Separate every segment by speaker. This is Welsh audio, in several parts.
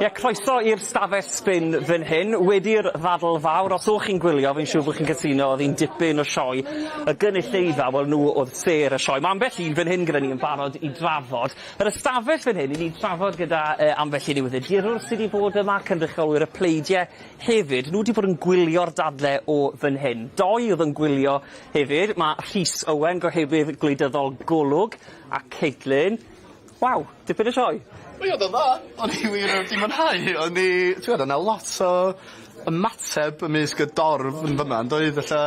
Speaker 1: Ie, croeso i'r stafell sbin fan hyn. Wedi'r ddadl fawr, os o'ch chi'n gwylio, fi'n siŵr bod chi'n cytuno, oedd hi'n dipyn o sioe. Y gynulleidfa, wel, nhw oedd sêr y sioe. Mae ambell un fan hyn gyda ni yn barod i drafod. Yr ystafell fan hyn, i ni drafod gyda uh, ambell un newyddiadurwr sydd wedi bod yma, cynrychiolwyr y pleidiau hefyd. Nhw wedi bod yn gwylio'r dadle o fan hyn. Doi oedd yn gwylio hefyd. Mae Rhys Owen, gohebydd gwleidyddol Golwg, a Caitlin Waw! Dipyn o sioe! Mae o 'ddo dda!
Speaker 2: O'n i wir wedi mwynhau hi o'n i t'wod o' 'na lot o ymateb ymysg y dorf yn fynna yndoedd ella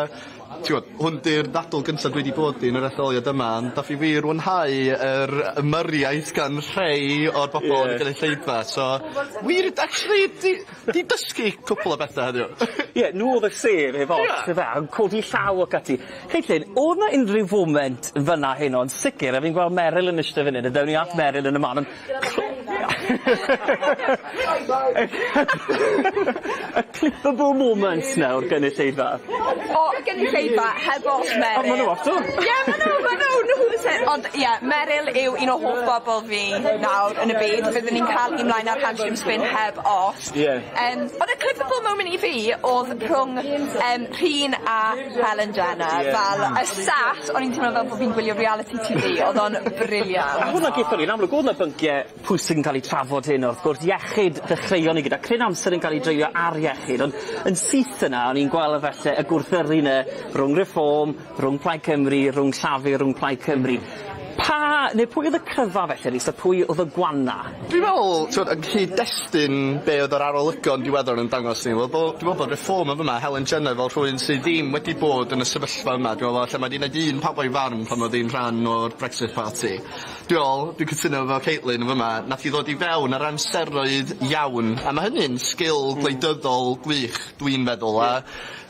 Speaker 2: t'wod hwn 'di'r ddadl gynta dwi 'di bod i yn yr etholiad yma ond dach chi wir fwynhau yr ymyriaeth gan rhei o'r bobol yn y gynulleidfa so wir actually 'di Di dysgu cwpwl o bethe heddiw. Ie n'w o'dd y
Speaker 1: sêr heb ots. Ie. Yfe a yn codi llaw ac ati. Caitlin o'dd 'na unryw foment fyn 'na heno yn sicir a fi'n gweld Meryl yn ishte fyn 'yn a dewn ni at Meryl yn y man on'... Y clipable moments nawr gynulleidfa. O y
Speaker 3: gynulleidfa heb ots Meryl. O ma' n'w off 'to.
Speaker 1: Ie ma'
Speaker 3: n'w ma' n'w nhw o'dd y sêr ond Ie, Meryl yw un o hoff bobol fi nawr yn y byd, fyddwn i'n caru 'Mlaen Â'r Hamster yn Spin' heb os. Ie. Yym o'dd y clippable moment i fi o'dd rhwng yym Rhun a Helen Jenner. Ie. Fel y set o'n i'n teimlo fel bo' fi'n gwylio reality Tee Vee o'dd o'n brilliant. A hwnna
Speaker 1: gethon ni yn
Speaker 3: amlwg
Speaker 1: o'dd 'na byncie pwysig yn ca'l 'u trafod heno wrth gwrs iechyd ddechreuon ni gyda cryn amser yn ca'l 'i dreulio ar iechyd ond yn syth yna o'n i'n gwel' y falle y gwrthyrru 'ny rhwng Reform, Rhwng Plaid Cymru, rhwng Llafur, rhwng Plaid Cymru. Pa... neu pwy oedd y cryfa felly Rhys a pwy oedd y gwana? Dwi'n meddwl, t'mod,
Speaker 2: yn cyd-destun be' oedd yr arolygon diweddar yn dangos ni, wel bo- dwi'n meddwl bod Reform yn fama, Helen Jenner fel rhywun sy ddim wedi bod yn y sefyllfa yma, dwi'n meddwl falle mae 'di neud un pawb o'i farn pan oedd hi'n rhan o'r Brexit Party. Dwi'n meddwl, dwi'n cytuno efo Caitlin yn fama, nath hi ddod i fewn ar amseroedd iawn, a ma' hynny'n sgil gwleidyddol gwych dwi'n feddwl, a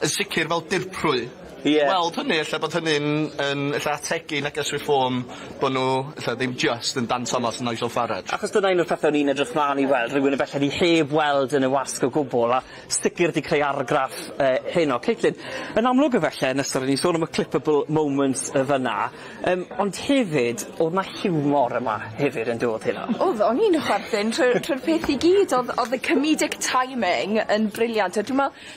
Speaker 2: yn sicir fel dirprwy. Ie. Weld hynny ella bod hynny'n yn ella ategu neges Reform bo' nw ella ddim jyst yn Dan Thomas a Nigel Farage. Achos dyna un o'r pethe o'n i'n
Speaker 1: edrych mlan i weld, rywun y belled fi heb weld yn y wasg o gwbwl, a sicir 'di creu argraff yy heno. Caitlin, yn amlwg efelle yn ystod o'n i'n sôn am y clippable moments yy fyn 'na yym ond hefyd o'dd 'na hiwmor yma hefyd yndodd Heno? O'dd, o'n i'n chwerthin
Speaker 3: trwy'r trwy'r peth i gyd o'dd o'dd y comedic timing yn brilliant a dwi me'wl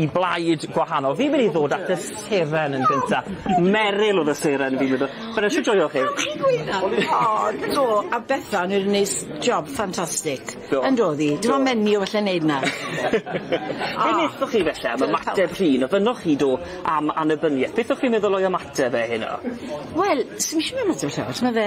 Speaker 1: i blaid gwahanol. Fi'n mynd i ddod at y seren yn gynta. Meryl oedd y seren fi'n meddwl. Meryl shwt joio chi? Chi'n gwynno?
Speaker 4: O do a Bethan wedi neud s- job ffantastig. Do. Yndodd 'i? Dim ond menyw all e neud 'na. Be'
Speaker 1: nethoch chi felly am ymateb Rhun? Ofynnoch chi do am annibynieth. Beth o'ch chi'n meddwl o'i ymateb e heno? Wel
Speaker 4: sdim isie myn' ma' fe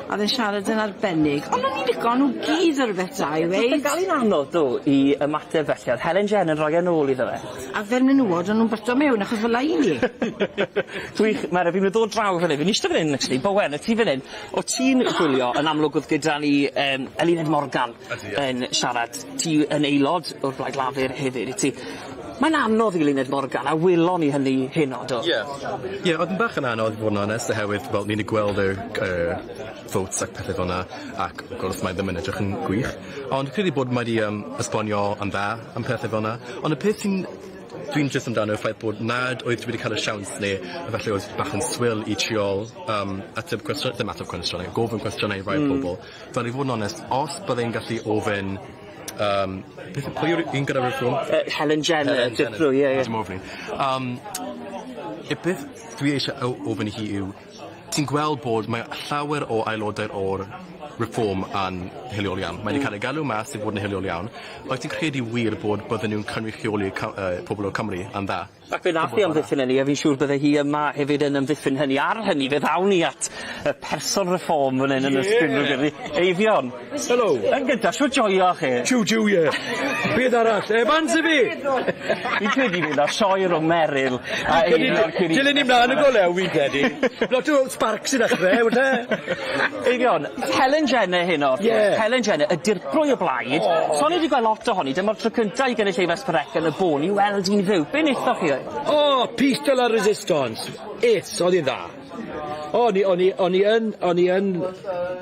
Speaker 4: A o'dd e'n siarad yn arbennig. Ond o'n i'n lico o nw gyd o' rwbeth da i weud. O'dd o'n dal i'n anodd do
Speaker 1: i ymateb felly o'dd Helen Jen yn roi e nôl iddo fe. A fel menywod o'n
Speaker 4: nw'n byta mewn achos fel 'a i ni. Gwych
Speaker 1: ma' rai' fi myn' i ddod draw fan 'yn fi'n ishte fan 'yn actually Bowen y tu fan 'yn o' ti'n gwylio yn amlwg o'dd gyda ni yym Eluned Morgan yn siarad ti yn aelod o'r Blaid Lafur hefyd wyt ti? Mae'n anodd i Luned Morgan, a welon ni hynny heno, do? Ie. Ie, oedd yn bach yn
Speaker 5: anodd i fod yn onest oherwydd wel ni'n gweld yr yr votes ac pethe felna ac wrth gwrs mae ddim yn edrych yn gwych ond credu bod mae 'di yym esbonio yn dda am pethe felna ond y peth sy'n dwi'n jyst amdano yw'r ffaith bod nad oedd wedi ca'l y siawns ne' efalle oedd bach yn swil i trial yym ateb cwestio- ddim ateb cwestiyne gofyn cwestiyne i rai pobol Fel i fod yn onest os bydde i'n gallu ofyn yym beth yw pwy yw'r un gyda Reform? Yy Helen Jenner. Helen Jenner.
Speaker 1: Dirprwy ie ie. Dim ofn 'i. Yym
Speaker 5: y peth dwi eisie o- ofyn i hi yw ti'n gweld bod mae llawer o aelodau o'r Reform yn hiliol iawn. Mae 'di ca'l ei galw mas i fod yn hiliol iawn. Wyt ti'n credu wir bod bydden nw'n cynrychioli Cy- yy pobol o Cymru yn dda? Ac fe nath hi amddiffyn
Speaker 1: hynny a fi'n siŵr bydde hi yma hefyd yn amddiffyn hynny. Ar hynny, fe ddaw ni at y person Reform fan 'yn yn y studio gyda ni. Eifion. Helo. Yn
Speaker 6: gynta, shwt joio
Speaker 1: chi? Jiw jiw ie.
Speaker 6: Beth arall? Evans i fi! Fi'n credu
Speaker 1: bydd 'na sioe rwng Meryl a Eifion cyn i ni... Dilyn
Speaker 6: ni mlan yn go lew fi'n credu. Lot o sparks i ddechre, falle. Eifion,
Speaker 1: Helen Jenner heno wrth gwrs. Ie. Helen Jenner, ydi'r Plwy o blaid. Son ni 'di gweld lot ohoni. Dyma'r tro cynta i gynulleidfa Sparreca yn y bôn i weld un fyw. Be nethoch chi oedd? O! Piece de
Speaker 6: la resistance. It's! Oedd hi'n dda. O ni o'n i o'n i yn o'n i yn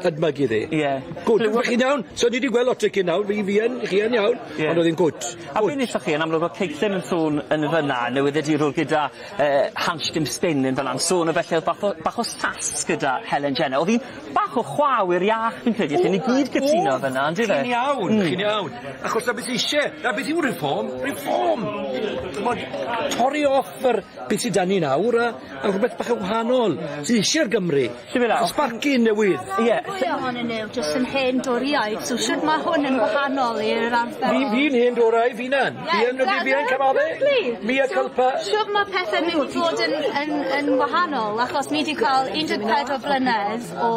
Speaker 6: edmygu ddi. Ie. Good. Dych chi'n
Speaker 1: iawn?
Speaker 6: So ni 'di gweld lot o cyn nawr fi fi yn chi yn iawn. Ie. Ond oedd hi'n good. A be nethoch chi yn amlwg
Speaker 1: o' Cigsen yn sôn yn fyn 'na yn newyddiadurwr gyda yy Hans Jim Spin yn fyn 'na yn sôn o felly o'dd bach o bach o sas gyda Helen Jenner. O'dd hi'n Bach o chwa awyr iach fi'n credu allen ni gyd cytuno fynna on'd yfe? Chi'n iawn. Hmm. Chi'n iawn.
Speaker 6: Achos 'na beth isie. 'Na beth yw Reform. Reform! T'mod torri off yr beth sy 'da ni nawr a a rhwbeth bach yn wahanol sydd isie'r Gymru. Siŵr o fod. Sbarcyn newydd. Ie. Mwy ohonyn
Speaker 7: nw jyst yn hen Dorïaid so shwd ma' hwn yn wahanol i'r ardal? Fi'n fi'n hen Dorau
Speaker 6: f'unan. Bien, no di bien, cymale? Mia culpa. Siwr mae pethau
Speaker 7: mynd i fod yn, yn, yn wahanol, achos ni wedi cael 14 blynedd o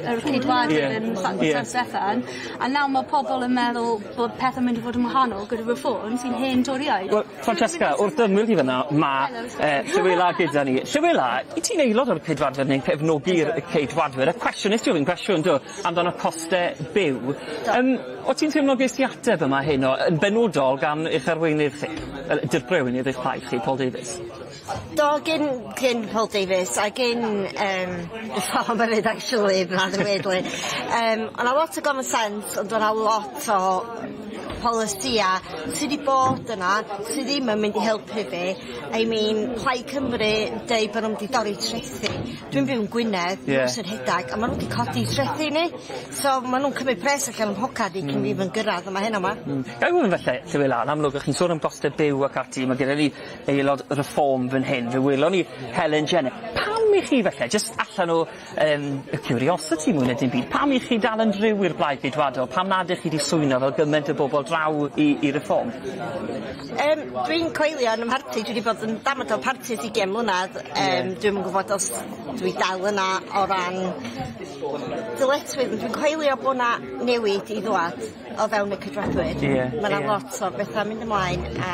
Speaker 7: yr ceidwadydd yeah. yn San yeah. Steffan, a nawr mae pobl yn meddwl bod pethau'n mynd i fod yn wahanol gyda Reform sy'n hen doriau. Well, Francesca,
Speaker 1: wrth ymwyl ti fyna, mae eh, Llywela gyda ni. Llywela, i ti'n aelod o'r ceidwadwyr neu'n cefnogi'r ceidwadwyr? Y cwestiwn, nes ti ofyn cwestiwn, do? amdan y coste byw. Do. Yym o' ti'n teimlo ges di ateb yma heno yn benodol gan eich arweinydd chi yy dirprwy arweinydd eich plaid chi Paul Davies? Do gin
Speaker 8: gin Paul Davies a gin yym actually rather weirdly yym o' 'na lot o common sense ond o' 'na lot o polisia sy 'di bod yna sy ddim yn mynd i helpu fi I mean Plaid Cymru yn deud bo' nw'n mynd i dorri trethi Dwi'n byw yn Gwynedd. Ie. Nos yn rhedag a ma' n'w 'di codi trethi ni so ma' nw'n cymryd pres allan o'm mhocad i cyn fi even gyrradd a ma' heno 'ma. Hmm. Ga'i ofyn falle
Speaker 1: Llywydd Llywela yn amlwg o' chi'n sôn am goste byw ac ati ma' gyda ni aelod Reform fyn hyn fe welon ni Helen Jenner. Pam i chi falle jyst allan o yym y curiosity mwy na dim byd pam i chi dal yn driw i'r Blaid Geidwadol pam nad 'ych chi 'di swyno fel gyment o bobol draw i i Reform? Yym
Speaker 8: dwi'n coelio yn y mharti dwi 'di bod yn damad o parti ers ugian mlynadd yym dwi'm yn gwbod os dwi dal yna o ran dyletswydd ond dwi'n coelio bo' 'na newid i ddŵad o fewn y Cydradwyr. Ie ie. Ma' 'na lot o betha mynd ymlaen a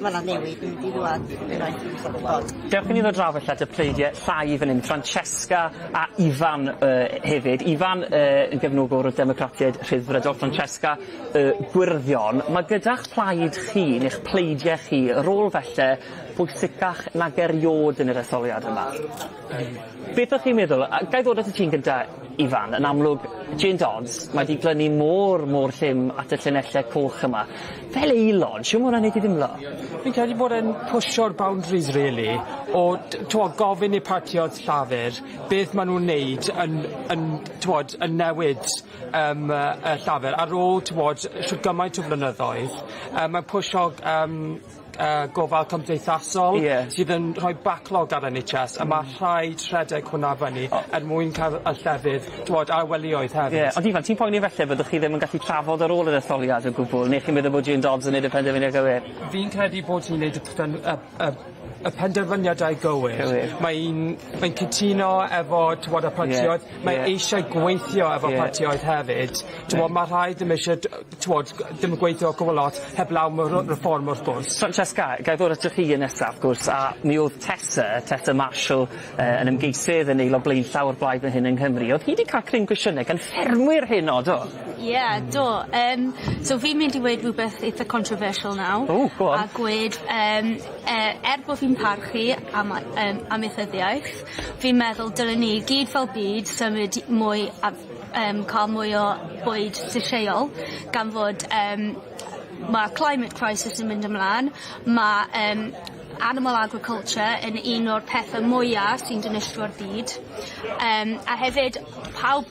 Speaker 8: ma' 'na newid yn mynd i ddŵad unwaith dwi isio gwbod. Dewch i ni ddod draw falla
Speaker 1: 'da pleidiau llai fan 'yn, Francesca a Ifan yy hefyd. Ifan yy yn gefnogwr y Democratiaid Rhyddfrydol. Francesca Y Gwyrddion, mae gyda'ch plaid chi, neu'ch pleidiau chi, rôl falle bwysicach nag eriôd yn yr etholiad yma. Beth o'ch chi'n meddwl? A ga i ddod at y ti yn gynta', Ifan? Yn amlwg, Jane Dodds, mae 'di glynu mor, mor llym at y llinelle coch yma. Fel aelod, shwt ma' hwnna'n neud ti dimlo? Fi'n credu bod e'n
Speaker 9: pwsio'r boundaries rili o t- t'mo' gofyn i partïoedd Llafur beth ma' nw'n neud yn yn t'mod yn newid Yym y Llafur ar ôl t'wod shwd gymaint o flynyddoedd yym mae'n pwsho yym yy gofal cymdeithasol... Ie. ...sydd yn rhoi backlog ar En Haitch Ess a ma' rhaid rhedeg hwnna fyny er mwyn ca'l y llefydd t'wod a'r welioedd hefyd. Ie ond Ifan ti'n poeni falle
Speaker 1: byddwch chi ddim yn gallu trafod ar ôl yr etholiad o gwbwl ne' chi'n meddwl bod Jane Dodds yn neud y penderfyniad gywir? Fi'n credu bod
Speaker 9: hi'n neud y pen- yy y y penderfyniadau gywir. Cywir. Mae 'i'n mae'n cytuno efo t'mod y partïoedd... Ie ie. ...mae eisiau gweithio efo... Ie. ...partïoedd hefyd t'mod ma' rhai ddim isie d- yy t'mod g- dim yn gweithio cwbwl lot heblaw am y r- Reform wrth gwrs. Francesca ga i ddod ato
Speaker 1: chi yn nesaf wrth gwrs a mi o'dd Tessa Tessa Marshall yy yn ymgeisydd yn Aelod Blaenllaw o'r Blaid fan hyn yng Nghymru o'dd hi 'di ca'l cryn gwysiyne gan ffermwyr hŷn o do? Ie, do.
Speaker 7: Yym, so fi'n mynd i weud rhywbeth eitha controversial nawr. O, go on. A gweud
Speaker 1: yym
Speaker 7: yy er bo' fi'n parchu am a- yym amaethyddiaeth fi'n meddwl dylen ni i gyd fel byd symud i mwy a- yym ca'l mwy o bwyd llysieuol gan fod yym ma' climate crisis yn mynd ymlan ma' yym animal agriculture yn un o'r pethe mwya sy'n dinistrio byd yym a hefyd pawb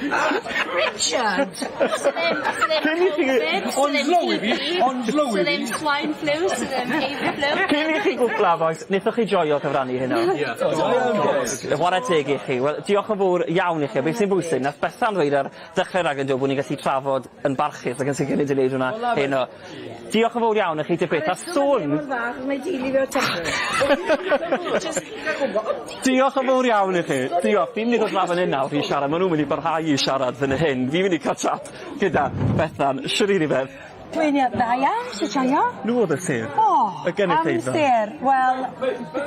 Speaker 6: Richard! Sa ddim, sa
Speaker 4: ddim Cyn i chi- Covid, sa
Speaker 6: ddim Ond lowi fi, ond lowi fi. Sa ddim
Speaker 7: swine flu, sa ddim avian flu. Cyn i chi gwpla a
Speaker 1: bois, nethoch chi joio cyfrannu heno? Ie. Do. Do. Whare teg i chi. Wel, diolch yn fowr iawn i chi a beth sy'n bwysig, nath Bethan ddweud ar ddechre raglen do bo' ni'n gallu trafod yn barchus ac yn sicir ni 'di neud hwnna heno. Diolch yn fowr iawn i chi te byth a sôn... Diolch yn fowr iawn i chi. Diolch. Fi'n mynd i ddod lan fan 'yn nawr i siarad ma' n'w myn' i barhau i siarad fyn y hyn. Fi myn' i ca'l chat gyda Bethan. Shwd 'yn ni fe? Dwi'n iaw- da iawn.
Speaker 10: Shwt shoia? Nw odd y sêr. O!
Speaker 1: Y gynulleidfa. Am y sêr. Wel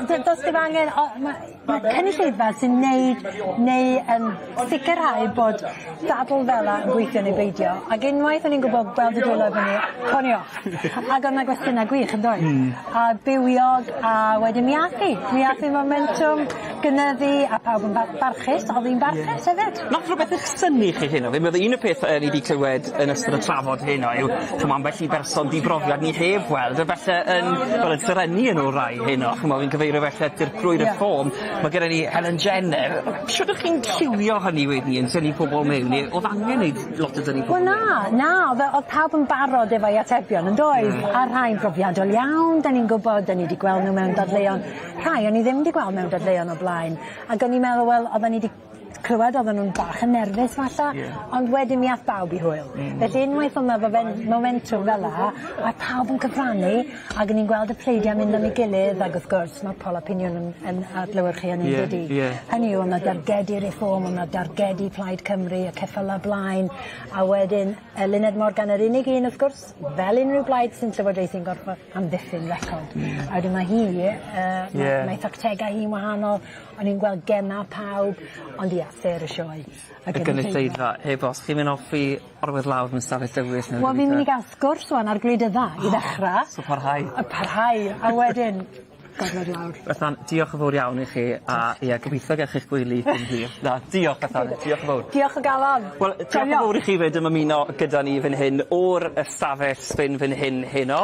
Speaker 10: d- do's dim angen o ma' Mae cynulleidfa sy'n neud neu yn sicrhau bod dadl fela yn gweithio neu beidio ag unwaith o'n i'n gwbo gweld y dwylo i fyny cawn off ag o' 'na gwestiyna gwych yndoedd? Hmm. A bywiog a wedyn mi ath 'i mi ath 'i fomentwm gynyddu a pawb yn ba- barchus o'dd 'i'n barchus hefyd. Nath rhywbeth eich synnu
Speaker 1: chi heno? Fi'n meddwl un o peth yy ni 'di clywed yn ystod y trafod heno yw ch'mo' ambell i berson di-brofiad ni heb weld a falle yn wel yn serennu yn orau heno ch'mo' fi'n cyfeirio falle at Dirprwy Reform ma' gyda ni Helen Jenner shwd o'ch chi'n lliwio hynny wedyn yn tynnu pobol mewn ne' o'dd angen neud lot o dynnu pobol mewn? Wel na na o'dd yy o'dd
Speaker 10: pawb yn barod efo'i atebion yndoedd? Hmm. A rhai'n brofiadol iawn 'dan ni'n gwbod 'dan ni 'di gweld n'w mewn dadleuon rhai o'n i ddim 'di gweld mewn dadleuon o blaen ag o'n i'n meddwl wel oddan ni 'di clywed odden nw'n bach yn nerfus falla. Ie. Ond wedyn mi ath bawb i hwyl. Hmm. Felly unwaith o' 'na fomen- momentwm fel 'a ath pawb yn cyfrannu ag o'n i'n gweld y pleidiau mynd am 'i gilydd ag wrth gwrs ma' Paula Pinion yn yn adlewyrchu hynny yndydi? Ie ie. Hynny yw o' 'na dargedi Reform o' 'na dargedi Plaid Cymru y ceffyla blaen a wedyn Eluned Morgan yr unig un wrth gwrs fel unryw blaid sy'n llywodraethu'n gorffo amddiffyn record. Hmm. A wedyn ma' hi yy... Ie. ...ma' mae tactega hi'n wahanol O'n i'n gweld gema pawb ond ia sêr y sioe. Y gynulleidfa. Y gynulleidfa
Speaker 1: heb os chi myn' offi orwedd lawr yn stafell dywyll ne' rwbeth. Wel fi myn' i ga'l sgwrs
Speaker 10: ŵan ar gwleidydda i ddechra. So parhau. A
Speaker 1: parhau a
Speaker 10: wedyn gorwedd lawr. Bethan diolch yn fowr
Speaker 1: iawn i chi a ie gobitho gech chi'ch gwely cyn hir. Na diolch Bethan diolch yn fowr. Diolch o galon. Wel
Speaker 10: diolch yn fowr i chi
Speaker 1: 'fyd am ymuno gyda ni fyn hyn o'r ystafell sbin fyn hyn heno.